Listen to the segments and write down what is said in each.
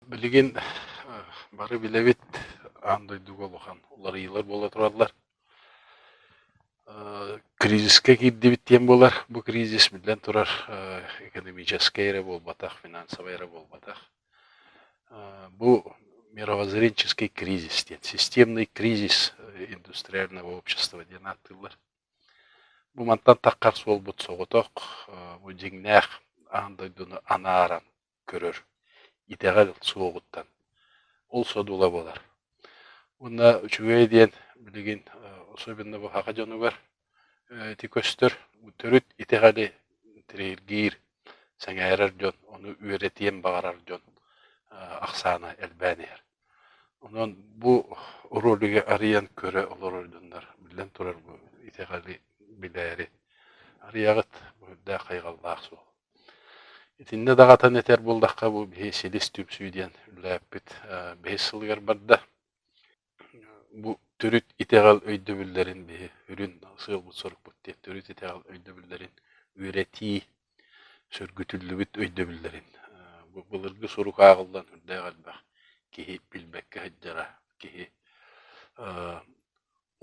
Билигин бары билэбит аан дойдуга улахан уларыйыылар буола тураллар. кризискэ киирдибит диэн буолар. Бу кризис биллэн турар экономическай эрэ буолбатах, финансовай эрэ буолбатах. Бу мировоззренческий кризис диэн системный кризис индустриального общества диэн ааттыыллар. Бу мантан таххар суолбут соҕотох, бу дьиҥнээх аан дойдуну анааран көрөр итэҕэл суоҕуттан ол содула буолар. Уонна үчүгэй диэн билигин особенно быһаҕа дьонугар ити көстөр төрүт итэҕэли тириэргиир, сэҥээрэр дьон, ону үөрэтиэн баҕарар дьон ахсаана элбээн иһэр. Онон бу ролигы арыйан көрө олорордуннар. Биллэн турар, бу итэҕэли билээри арыйаҕыт. Бу үрдээх хайҕаллаах суол. Итиннэ даҕатан этэр буоллахха, бу биһи силис түмсүү диэн үлэлээппит бэһис сылыгар барда. Бу төрүт итэҕэл өйдөбүллэрин биһи үрүн сыалбыт-сорукпут диэн төрүт итэҕэл өйдөбүллэрин үөрэтии сөргүтүллүбүт өйдөбүллэрин былыргы сурук ааҕыллан үрдээх элбэх киһи билбэккэ сылдьара киһи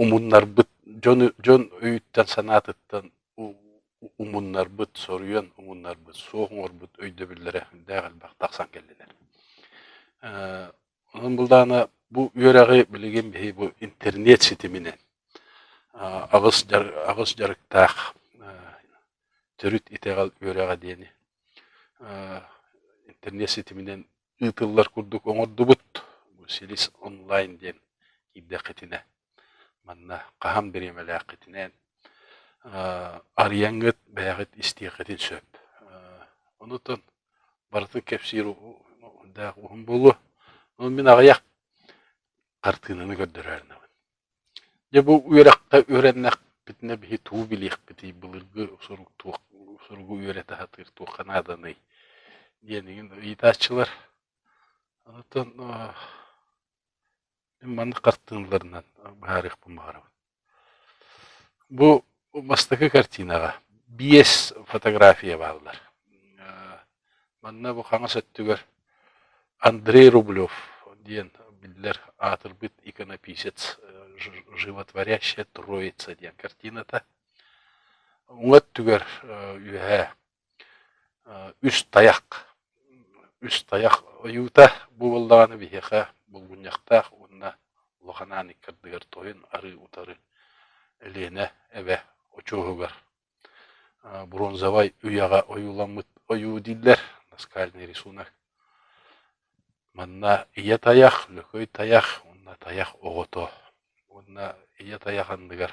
умуннарбыт дьону дьон өйүттэн-санаатыттан умуннарбыт соруйан умуннарбыт суох оҥорбут өйдөбүллэрэ үрдээх элбэх тахсан кэллилэр Онон былаана бу үөрэҕи билигин биһи бу интернет ситиминэн аҕыс дьар аҕыс дьарыктаах төрүт итэҕэл үөрэҕэ диэни интернет ситиминэн ыытыллар курдук оҥордубут. Бу Силис онлайн диэн киирдэххитинэ манна хаһан бириэмэлээххитинээн арыйаҥҥыт бэйэҕит истиэххитин сөп. Онутан барытын кэпсиир уһундаах уһун буолуо. Ол мин аҕыйах хартыынаны көрдөрөөрнөҕүн. Дьэ бу үөрэххэ үөрэннэхпитинэ биһи тугу билиэхпитий, былыргы сурук туох суругу үөрэтэ сатыыр туохха нааданый диэн ыйытааччылар. Оттон Маннык хартыыналарынан быһаарыахпын баҕарабын. Бу бастакы картинаҕа биэс фотография бааллар. Манна бу хаҥас өттүгэр Андрей Рублев диэн биллэр аатырбыт иконописец животворящая троица диэн картината. Уҥа өттүгэр үөһээ Үс тайах, үс тайах ойуута бу буоллаҕына биһиэхэ булгунньахтаах уонна улахан аан икки ардыгар тойон арыы утары Ленэ эбэ очуоһугар бронзовай үйэҕэ ойууламмыт ойуу дииллэр, наскальный рисунок. Манна ийэ тайах, лөкөй тайах уонна тайах оҕото уонна ийэ тайах анныгар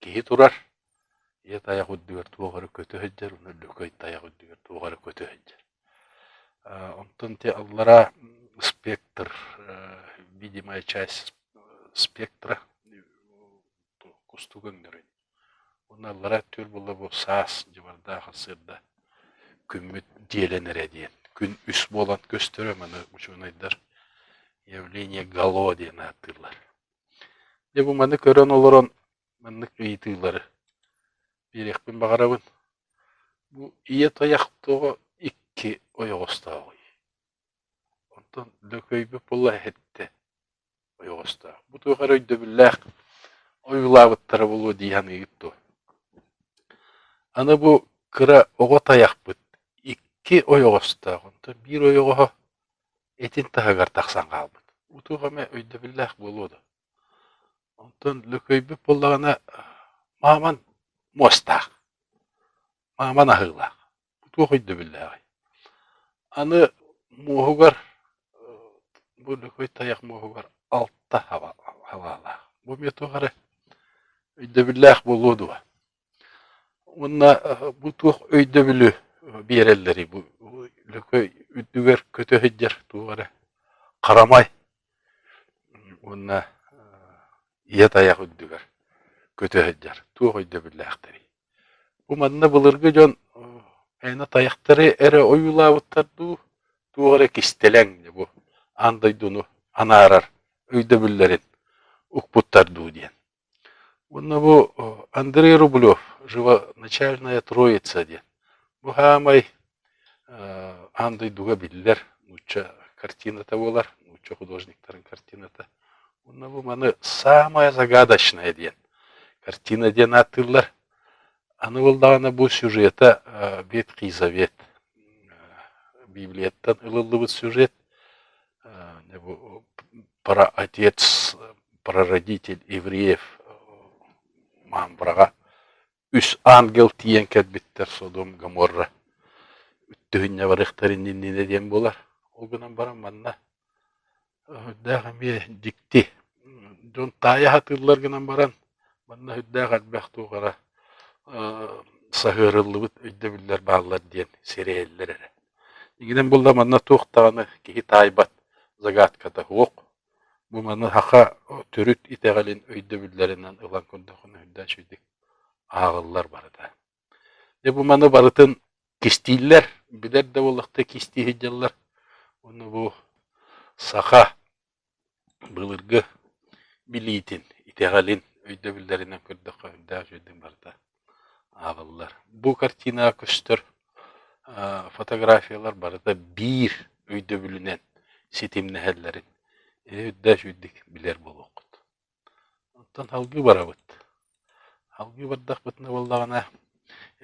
Киһи турар, ийэ тайах үрдүгэр туох эрэ көтө сылдьар уонна Лөкөй тайах үрдүгэр туох эрэ көтө сылдьар. Онтон ити аллараа спектр, видимая часть спектра кустугу өҥнөрүн. Уонна аллараа өттүгэр буолла бу саас, дьыбардаах сырда күммүт дьиэлэн эрэ диэн. Күн үс буолан көстөрө маны учуонайдар явление гало диэн ааттыыллар. Дьэ бу маны көрөн олорон маннык ыйытыылары биэриэхпин баҕарабын. Бу ийэ тайах тоҕо икки ойоҕостоох? Онтон Лөкөйбөп була эһэттэ ойоҕостоох. Бу туох эрэ өйдөбүллээх ойуулаабыттара буолуо дии саныыгыт дуо? Аны бу кыра оҕо тайахпыт икки ойоҕостоох. Онтон биир ойоҕоһо Итин таһыгар тахсан хаалбыт, утук эмэ өйдөбүллээх буолуо дуо, онтон Лөкөйбүт буоллаҕына мааман муостаах, мааман аһыылаах, туох өйдөбүллээҕий? Аны муоһугар бу Лөкөй тайах муоһугар алта хабаалаах, бу эмиэ туох эрэ өйдөбүллээх буолуо дуо? Уонна бу туох өйдөбүлү биэрэллэрий бу Лөкөй үрдүгэр көтө сылдьар туох эрэ харамай уонна ийэ тайах үрдүгэр көтө сылдьар туох өйдөбүллээхтэрий? Бу манна былыргы дьон аны тайахтары эрэ ойуулаабыттар дуу, туох эрэ кистэлэҥ бу аан дойдуну анаарар өйдөбүллэрин укпуттар дуу диэн. Уонна бу Андрей Рублев «Живоначальная Троица» диэн. Бу саамай аан дойдуга биллэр нуучча картината буолар, нуучча художниктарын картината. Уонна бу маны «Самая загадочная» диэн картина диэн ааттыыллар. Аны буоллаҕына бу сюжета Ветхий Завет Библияттан ылыллыбыт сюжет. Праотец, прародитель евреев быраҕа үс ангел тиийэн кэлбиттэр Содом Гоморра үттүһүннэ барыахтарын иннинэ диэн буолар. Ол гынан баран манна үрдээх эмиэ дьикти дьон таайа сатыыллар гынан баран манна үрдээх элбэх туох эрэ саһыарыллыбыт өйдөбүллэр бааллар диэн сэрэйэллэр эрэ Итинэн булла манна туох даҕаны киһи таайбат загадката суох, бу маны саха төрүт итэҕэлин өйдөбүллэринэн ылан көрдөххүнэ үрдээн сүрдүк ааҕыллар барыта. Дьэ бу маны барытын кистииллэр, билэр да буоллахтыы кистии сылдьаллар. Ону бу саха Былыргы билиитин, итэҕэлин өйдөбүллэринэн көрдөххө үрдээх үчүгэйдик барыта аабыллар. Бу картинаҕа көстөр фотографиялар барыта биир өйдөбүлүнэн ситимнэһэллэрин үрдээх үчүгэйдик билэр буолуоххут. Оттон салгыы барабыт. Салгыы бардахпытына буоллаҕына,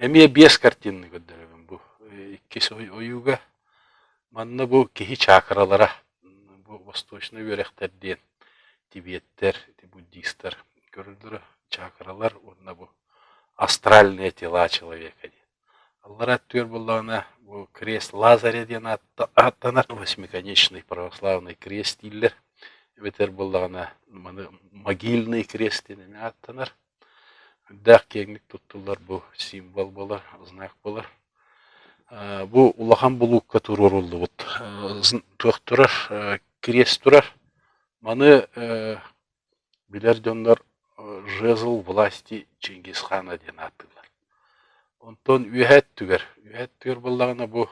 эмиэ биэс картинаны көрдөрөбүн бу иккис ойууга. Манна бу киһи чаакыралара, бу восточнай үөрэхтэр диэн тибеттэр, буддистар көрөллөрө чаакыралар уонна бу астральные тела человека диэн. Аллара өттүгэр буоллаҕына бу крест Лазаря диэн ааттанар восьмиконечный православный крест дииллэр эбэтэр буоллаҕына маны могильный крест диэн ааттанар үрдээх киэҥник туттуллар бу символ буолар знак буолар бу улахан булуукка туруоруллубут туох турар крест турар маны Билэр дьоннор «Жезл власти Чингисхана» диэн ааттыыллар. Онтон үөһэ өттүгэр, үөһэ өттүгэр буоллаҕына бу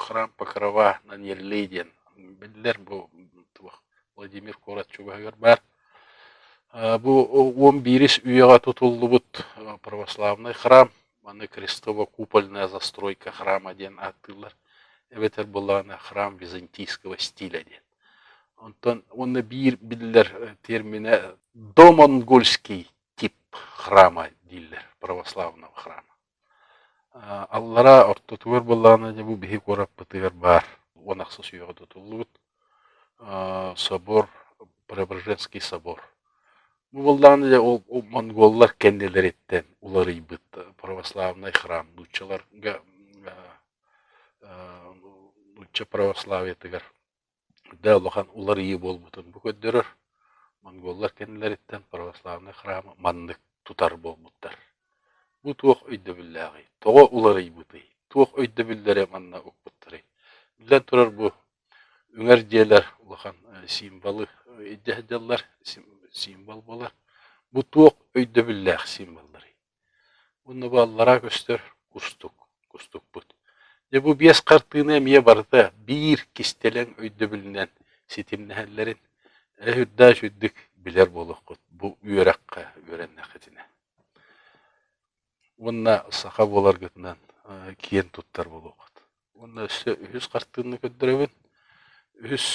«Храм Покрова Наньеллей» диэн биллэр бу туох Владимир куорат чугаһыгар баар. Бу уон биирис үйэҕэ тутуллубут православнай храм, аны Крестово-купольная застройка храма диэн ааттыыллар, эбэтэр буоллаҕына храм византийского стиля диэн. Онтон уонна биир биллэр терминэ домонгольский тип храма дииллэр православного храма. Аллараа ортотугар былаана дьэ бу биһи куораппытыгар баар уон ахсыс үөҕэ тутуллубут собор, Преображенский собор. Бу былаана дьэ ол монголлар кэннилэриттэн уларыйбыт православнай храм нууччаларга нуучча православиетыгар да улахан уларыйыы буолбутун бу көрдөрөр монголлар кэннилэриттэн православный храма маннык тутар буолбуттар бу туох өйдөбүллээҕий тоҕо уларыйбытый туох өйдөбүллэри манна укпуттарый биллэн турар бу үҥэр дьиэлэр улахан символы илдьэ сылдьаллар символ буолар бу туох өйдөбүллээх символларый Уонна бу аллараа көстөр кустук, кустукпут. Дьэ бу биэс хартыына эмиэ барыта биир кистэлэҥ өйдөбүлүнэн ситимнэһэллэрин эрэ үрдээч үрдүк билэр буолуоххут бу үөрэххэ үөрэннэххитинэ. Уонна саха буоларгытынан киэн туттар буолуоххут. Уонна өссө үһүс хартыына көрдөрөбүн. Үһүс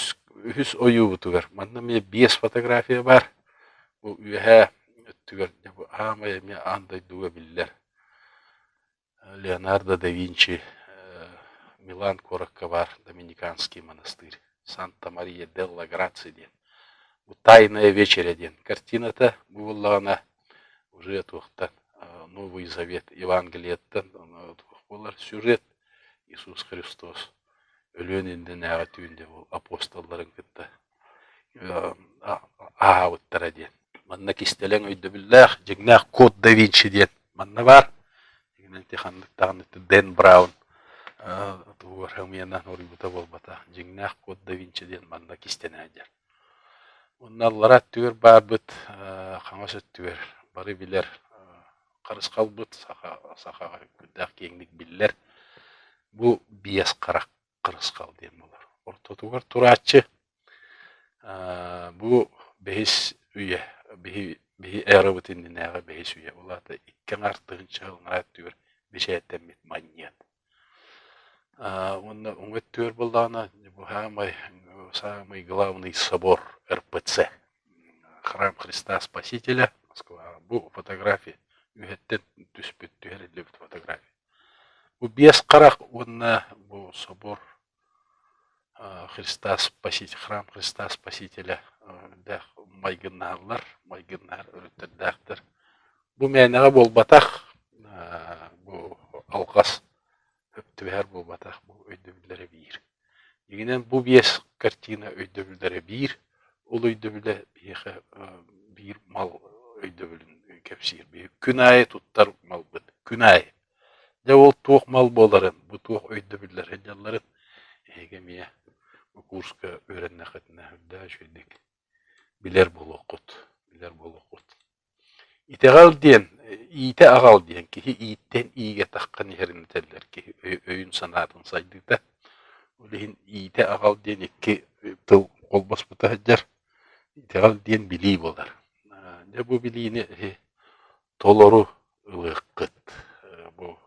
үһүс ойуубутугар манна эмиэ биэс фотография баар. Бу үөһээ өттүгэр дьэ бу аамай эмиэ аан дойдуга биллэр Леонардо да Винчи Милан куоракка баар Доминиканский монастырь Санта-Мария делла Грации диэн. Бу «Тайная вечеря» диэн картината бу буоллаҕына уже туохтан Новый Завет Евангелияттан туох буолар сюжет Иисус Христос өлүөн иннинээҕи түүнde бу апостолларын кытта ааһаабыттара диэн. Манна кистэлэҥ өйдөбүллээх дьиҥнээх код да Винчи диэн манна баар. Дигинэн ти ханнык даҕаны Дэн Браун тугугар хэмиэнэ хоруйбута буолбата дьиҥнээх код да Винчи диэн манна кистэнэ Онно аллара өттүгэр баарбыт хаҥас өттүгэр бары билэр харысхалбыт саха сахаҕа үҥкүрдээх киэҥник биллэр бу биэс харах харысхал диэн буолар. Ортотугар турааччы бу бэһис үйэ биһи биһи эрабыт иннинээҕи бэһис үйэ ол аата икки аҥаар тыһыынча сыл анараа өттүгэр бэчээттэммит манньыат Аа уонна уҥа өттүгэр буоллаҕына саамай саамай главный собор РПЦ храм Христа Спасителя бу фотография үһэттэн түспүт түһэриллибит фотография бу биэс харах уонна бу собор Христос спаситель храм Христа Спасителя элбэх майгыннаһаллар, майгыннаһар өрүттэрдээхтэр. Бу мээнэҕэ буолбатах, бу алҕас түбэһэр буолбатах, бу өйдөбүллэрэ биир. Дьиҥинэн бу биэс картина өйдөбүллэрэ биир, ол өйдөбүлэ биһиэхэ биир мал өйдөбүлүн кэпсиир. Күн аайы туттар малбыт, күн аайы. Дьэ ол туох мал буоларын, бу туох өйдөбүллэр сылдьалларын эһиги эмиэ бу курска үөрэннэххитинэ үрдээ үчүгэйдик билэр буолуоххут, билэр буолуоххут. Итэҕэл диэн, иитэ аҕал диэн киһи ииттэн иигэтэххин иһэринэтэллэр киһи өйүн-санаатын сайдыыта. Ол иһин иитэ аҕал диэн икки тыл холбоспута сылдьар. Итэҕэл диэн билии буолар. Дьэ бу билиини Толору ылыаххыт, бу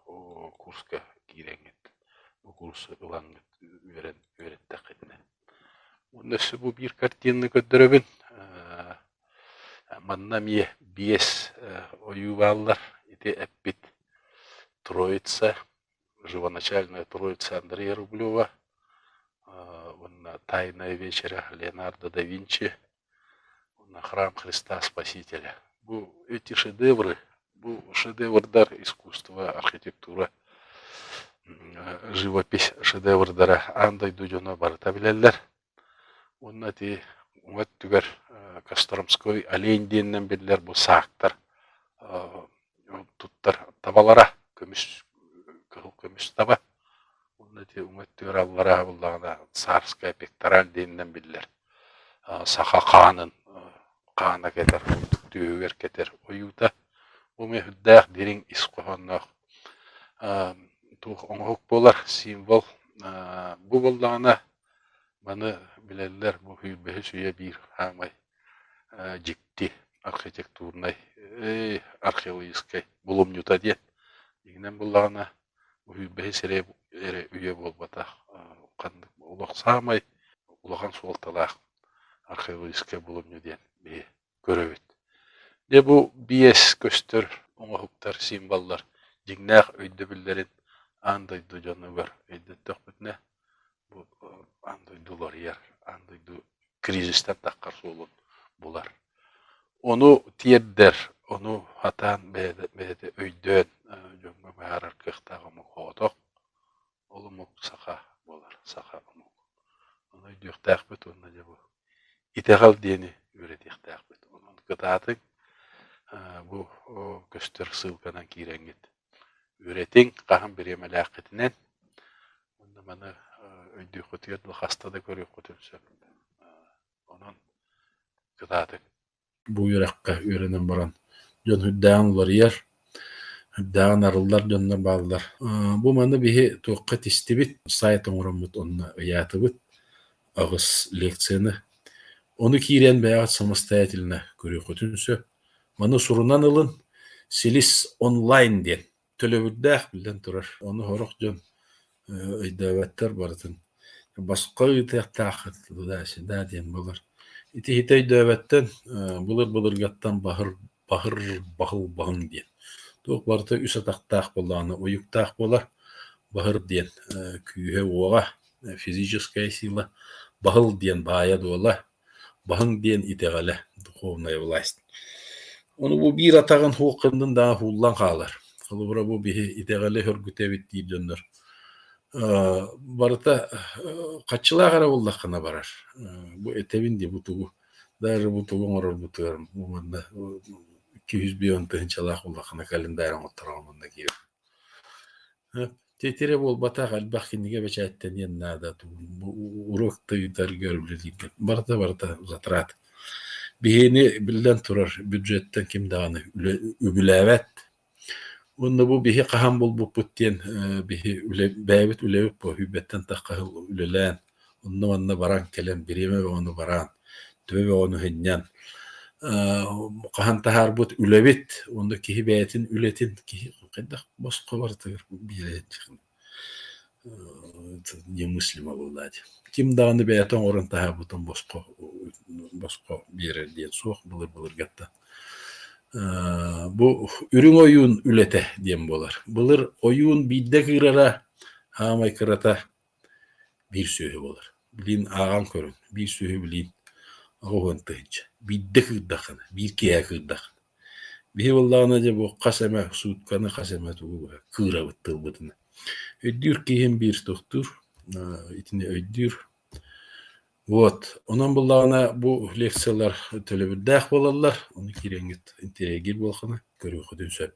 курска киирэҥҥит, бу курс ылаҥҥыт үөрэн үөрэттэххитинэ. Уонна өссө бу биир картинаны көрдөрөбүн. Манна эмиэ биэс ойуу бааллар. Ити эппит Троица, живоначальная Троица Андрея Рублева уонна Тайная вечеря Леонардо да Винчи Уонна храм Христа Спасителя. Бу, эти шедевры, бу шедеврдар искусство, архитектура, живопись шедеврдара аан дойду дьоно барыта билэллэр. Уонна ити уҥа өттүгэр Костромской олень диэнинэн биллэр бу саактар туттар табалара, көмүс кыһыл көмүс таба уонна ити өттүгэр аллараа буоллаҕына царская пектораль диэнинэн биллэр саха хаанын хаана кэтэр ордук түөһүгэр кэтэр ойуута бу мүһүрдээх дириҥ ис хоһоонноох туох оҥоһук буолар символ бу буоллаҕына маны билэллэр бу үһүйбэһис үйэ биир хаамай дьикти архитектурнай археологическай булумньута диэн дьиҥинэн буллаҕына үһүйбэһи сирэ эрэ үйэ буолбатах ханнык олох саамай улахан суолталаах археологическай булумньу диэн биһи көрөбүт дьэ бу биэс көстөр оҥоһуктар символлар дьиҥнээх өйдөбүллэрин аан дойду дьонугар өйдөттөхпүтүнэ Бу аан дойду уларыйар, аан дойду кризистэрдаххар суолун булар. Ону тиэрдэр, ону хатаан бэйэтэ бэйэтэ өйдөөн дьоҥҥо быһаарар кыахтаах омук соҕотох. Ол омук саха буолар, саха омук. Ону өйдүөхтээхпит уонна дьэ бу итэҕэл диэни үөрэтиэхтээхпит. Онон кытаатыҥ, бу көстөр ссылканан киирэҥҥит Үөрэтиҥ, хаһан бириэмэлээххитинэн уонна маны өйдүөххүтүгэр да хаста да көрүөххүтүн сөп. Онон кытаатыҥ. Бу үөрэххэ үөрэнэн баран дьон үрдээҕин уларыйар, үрдээҕин арыллар дьоннор бааллар. Бу манна биһи туохха тистибит, сайт оҥороммут онно ыйаатыбыт аҕыс лекцияны. Ону киирэн бэйэҕит самостоятельно көрүөххүтүн сөп. Маны сурунан ылын, Силис онлайн диэн төлөбүрдээх биллэн турар. Ону сорох дьон өйдөөбөттөр барытын. Босхо ыытыахтааххыт туда сюда диэн булар. Ити ити өйдөөбөттөн былыр-былыргаттан баһыр баһыр баһыл баһыҥ диэн. Туох барыта үс атахтаах буоллаҕына уйуктаах буолар. Баһыр диэн күүһэ-уоҕа, физическая сила, баһыл диэн баайа-дуола, Баһыҥ диэн итэҕэлэ, духовная власть. Ону бу биир атаҕын һуох кыннын даҕа һууллан хаалар. Холобура бу биһи итэҕэли хөргүтэбит диир дьоннор аа барыта хаччылаах эрэ буоллаххына барар. Бу этэбин дии бу тугу даже бу тугу оҥорорбутугар манна икки сүүс биэс он тыһыынчалаах буоллаххына календарь оҥоттороҕун манна киирэр Ити эрэ буолбатах, элбэх кинигэ бэчээттэниэн наада, уруок тыйытарга үлэлииргэ. Барыта барыта затрат. Биһиэни, биллэн турар, бюджеттан ким даҕаны үбүлээбэт. Уонна бу биһи хаһан булбуппут диэн биһи үлэ, бэйэбит үлэбит буһуйбэттэн тахха үлэлээн Онно-манна баран кэлэн бириэмэ бөҕөнү бараан, төбө бөҕөнү сынньан, хаһан таһаарбыт үлэбит уонна киһи бэйэтин үлэтин киһи хайдах босхо барытыгар биэрээччи немыслимо бывлать. Ким даҕаны бэйэтэ оҥорон таһаарбытын босхо босхо биэрэр диэн суох былыр-былыргаттан бу үрүҥ ойуун үлэтэ диэн буолар. Былыр ойуун биирдэ кыырара, аамай кырата Биир сүөһү буолар. Билигин ааҕан көрүҥ, биир сүөһү билигин оҕо уһун тыһыынча. Биирдэ кыырдаххына, биир киэһэ кыырдаххына. Биһи буоллаҕына дьэ бу хас эмэ суутканы, хас эмэ тугу кыырабыт тылбытына. Өйдүүр киһим биир тохтуур, итини өйдүүр. Вот, онон буоллаҕына бу лекциялар төлөбүрдээх буолаллар, ону кириэҥҥит интириэһиргиир буоллаххына көрүөххүтүн сөп.